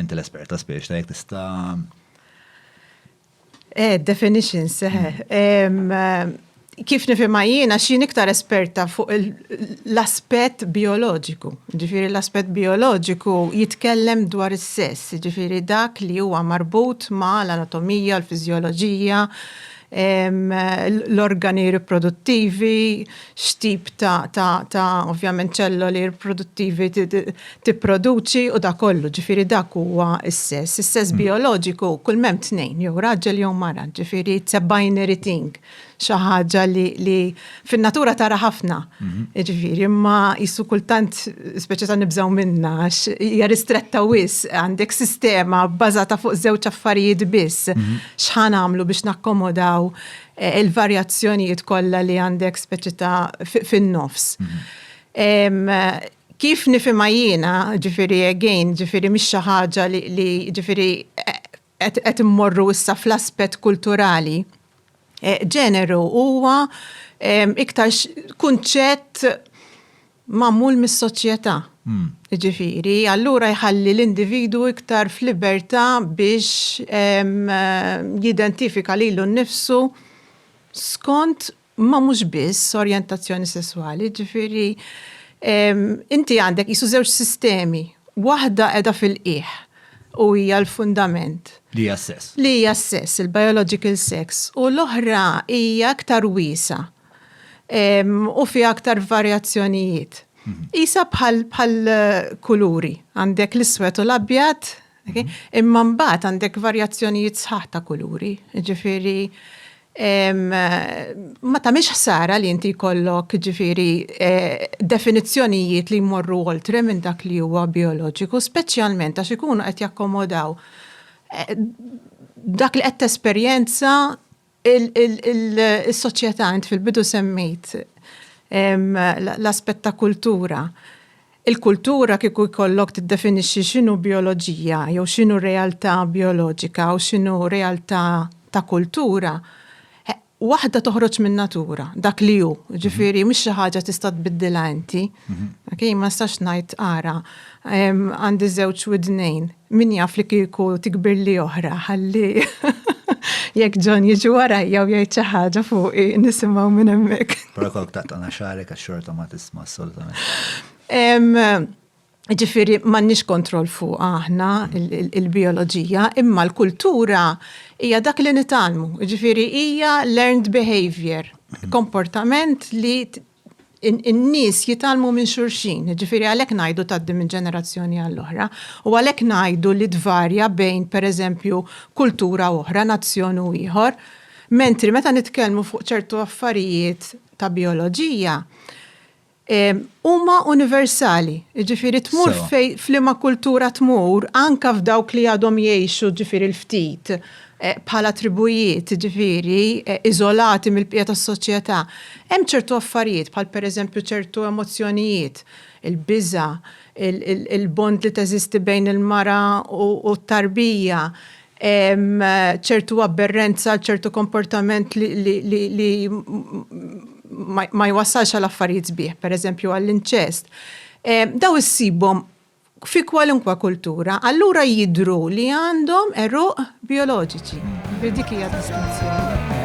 Inti l-espert ta' spiex, ta' jek tista. Eh, definition seħe. Hmm. Kif nifima jiena xin iktar esperta fuq l-aspet bioloġiku. Ġifiri l-aspet bioloġiku jitkellem dwar is-sess, ġifiri dak li huwa marbut ma' l-anatomija, l-fizjoloġija, l-organi riproduttivi, x'tip ta' ovvjament ċelloli riproduttivi tipproduċi u dak kollu, ġifieri dak huwa s-sess. Is-sess bijoloġiku kull m'hemm tnejn, jew raġel jew mara, ġifieri it's a binary thing, xi ħaġa li fin-natura tara ħafna. Mhm. Ġifieri, imma jissu kultant speċi ta' nibżgħu minna għax hija ristretta wis għandek sistema bbażata fuq żewġ affarijiet biss. Mhm. X'ħan għamlu biex nakkomodaw eh, il-varjazzjonijiet kollha li għandek speċi ta' fin-nofs. Mhm. Kif nifima jiena, ġifiri again, ġifiri mhix xi ħaġa li ġifiri eh, qed qed immorru issa fl-aspett kulturali, ġeneru huwa iktar kunċett magħmul mis-soċjetà. Jiġifieri, allura jħalli l-individwu iktar f'libertà biex jidentifika lilu nnifsu skont ma mhux biss orjentazzjoni sesswali, ġifieri inti għandek jisu żewġ sistemi, waħda qiegħda fil-qiegħ u hija l-fundament. Li hija s-sess. Li hija s-sess, il-biological sex, u l-oħra hija aktar wiesa' u fi aktar varjazzjonijiet. Mhm. Isa bħal kuluri, għandek l-iswed u l-abjad, Imma mbagħad għandek varjazzjonijiet sħaħ ta' kuluri, ġifieri ma tagħmilx ħsara li inti jkollok ġifieri definizzjonijiet li jmorru oltre minn dak li huwa bijoloġiku, speċjalment għax ikunu qed jakkomodaw dak li qed tesperjenza Is-soċjetà, int fil-bidu semmejt l-aspett ta' kultura. Il-kultura kieku jkollok tiddefinixxi x'inhu bijoloġija jew x'inhu realtà bijoloġika u x'inhu realtà ta' kultura, waħda toħroġ min-natura, dak li hu. Ġifieri mhux xi ħaġa tista' tbiddilha inti. Okej, ma nistax ngħid ara għandi żewġ widnejn, Min jaf li kieku tikbirli oħra ħalli jekk John jiġi warajja u jgħid xi ħaġa fuqi nisimgħu minn hemmhekk. Però kok taqtana xarek għax xorta ma tisma' assolutament. Ġifiri, mannix kontroll fuq aħna il-bioloġija, imma l-kultura hija dak li nitalmu. Ġifiri, hija learned behavior, komportament li in-nies jitgħallmu minn xulxin, jiġifieri għalhekk ngħidu tgħaddi minn ġenerazzjoni għall-oħra, u għalhekk ngħidu li tvarja bejn, pereżempju, kultura u oħra, nazzjon u ieħor. Mentri meta nitkellmu fuq ċertu affarijiet ta' bijoloġija, huma universali, jiġifieri tmur f'liema kultura tmur, anke f'dawk li għadhom jgħixu, jiġifieri l-ftit, bħala tribujiet, jiġifieri, iżolati mill-bqija tas-soċjetà, hemm ċertu affarijiet, bħal pereżempju ċertu emozzjonijiet, il-biża', il-bond li teżisti bejn il-mara u t-tarbija, ċertu abberrenza għal ċertu komportament li ma jwassalx għal affarijiet sbieħ, pereżempju għall-inċest. Dawn issibhom fi kwalunkwe kultura, allura jidhru li għandhom għeruq bijoloġiċi. Dik hija d-distinzjoni.